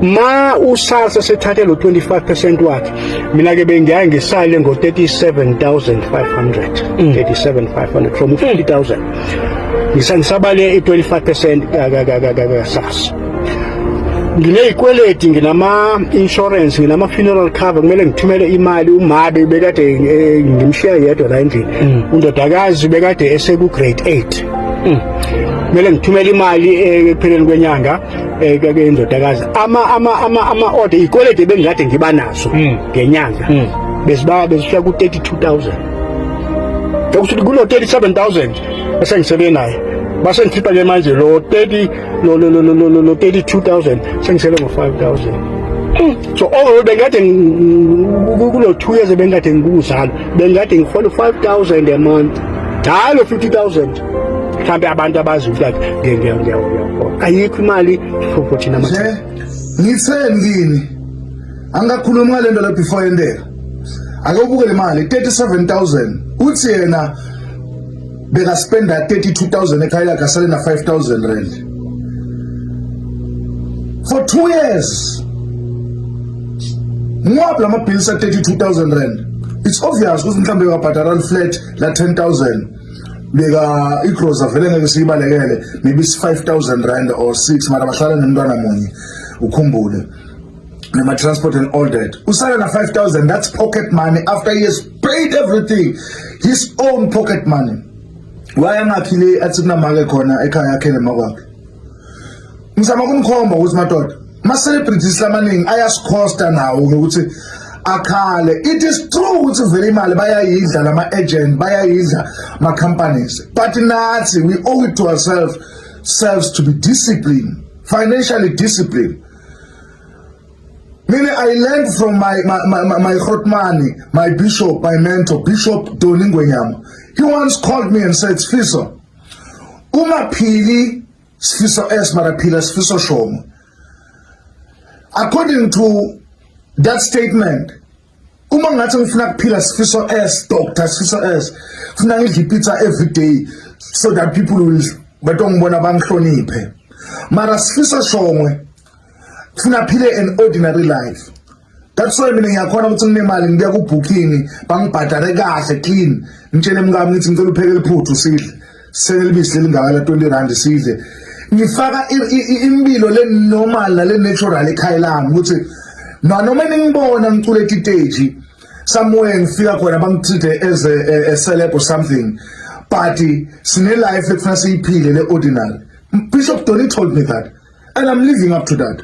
ma usasa sethathe lo 25% wakhe mina ke bengiyaye ngisale ngo 37500 37500 from 50000 mm. ngisangisabale i 25% kasasa nginezikweleti nginama insurance nginama funeral cover kumele ngithumele imali umabe bekade eh, ngimshiya yedwa la endlini mm. undodakazi bekade eseku grade 8 mm. kumele ngithumele imali eh, ekupheleni kwenyanga eh ke indodakazi ama ama ama ama order ikolede bengikade ngiba nazo hmm. ngenyanga hmm. besiba besifika ku 32000 ukuthi kulo 37000 esengisebenza naye basengikhipha ke manje lo 30 lo lo lo lo lo 32000 sengisele ngo 5000 hmm. so overall bengikade kulo 2 years bengikade ngikuzalo bengikade ngihola 5000 a month hayi lo 50000 mhlawumbe abantu abazi ukuthi ngiyakona ayikho imali for thina mathela ngitheni kini angakhulumi ngale nto la before yendela ake ubuke le mali 37000 uthi yena bekaspenda 32000 ekhaya lakhe asale na 5000 rand for 2 years ngwaphi lama bills a 32000 rand it's obvious ukuthi mhlawumbe wabhadala flat la 10000 beka igrosa vele ngeke siyibalekele maybe si 5000 rand or 6 mara bahlala nemntwana munye ukhumbule nema transport and all that usala na 5000 that's pocket money after he has paid everything his own pocket money wayangakhi le athi kunamake khona ekhaya yakhe nemakwakhe ngizama kumkhomba ukuthi madoda ma celebrities lamaningi ayasikhosta nawo ukuthi akhale it is true ukuthi vele imali bayayidla lama agent bayayidla ma companies but nathi we owe it to ourselves selves to be disciplined financially disciplined Meaning I learned from my my my, my, my Hotmani, my bishop, my mentor, Bishop Doningwenyama. He once called me and said, Fiso, kungaphili sifiso s mara phila sifiso shomo according to that statement uma ngathi ngifuna kuphila sifiso s doctor sifiso s funa ngidle pizza every day so that people will batongibona bangihloniphe mara sifiso shongwe funa phile an ordinary life that's why mina ngiyakhona ukuthi nginemali ngibuya ku-booking bangibhadare kahle clean ngitshele mkami ngithi ngicela upheke liphuthu sidle senelibisi lelingaka la 20 rand sidle ngifaka impilo le normal nale natural ekhaya lami ukuthi nanoma ningibona ngicula etiteji somewhere ngifika khona bangithithe as a, a, a celeb or something but sine life ekufuna siyiphile le ordinary bishop Donny told me that and i'm living up to that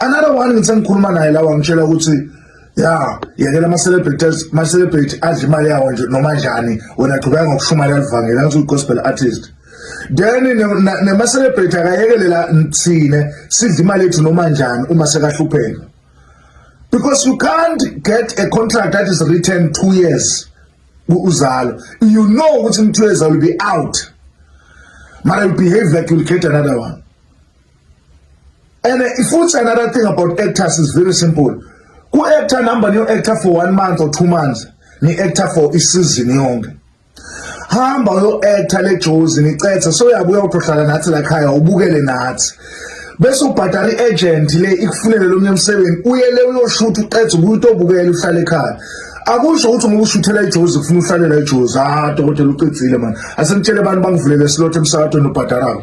another one ngisengikhuluma naye lawa ngitshela ukuthi ya yekela ama-celebrities ma-celebrity adla imali yawo nje noma njani wena qhubeka ngokushumayela livangeli angithi uyi-gospel artist then nema-celebrity akayekelela thine sidla imali yethu noma njani uma sekahlupheka because you can't get a contract that is written two years uzalo you know ukuthi in two years i will be out mara you behave like you will get another one and uh, futhi another thing about actors is very simple ku-actor number niyo-actor for one month or two months ni-actor for isizini yonke hamba uyo-actor le jozi nicethe soyabuya utohlala nathi lakhaya ubukele nathi bese ubhadala i-agent le ikufunele lo mnye msebenzi uye le uyoshutha uqedze ubuye utobukela uhlale ekhaya akusho ukuthi ngoba ushuthela ijozi kufuna uhlalela ijozi ah dokotela ucedzile mani asengitshele abantu bangivulele slot emsakatweni obhadalako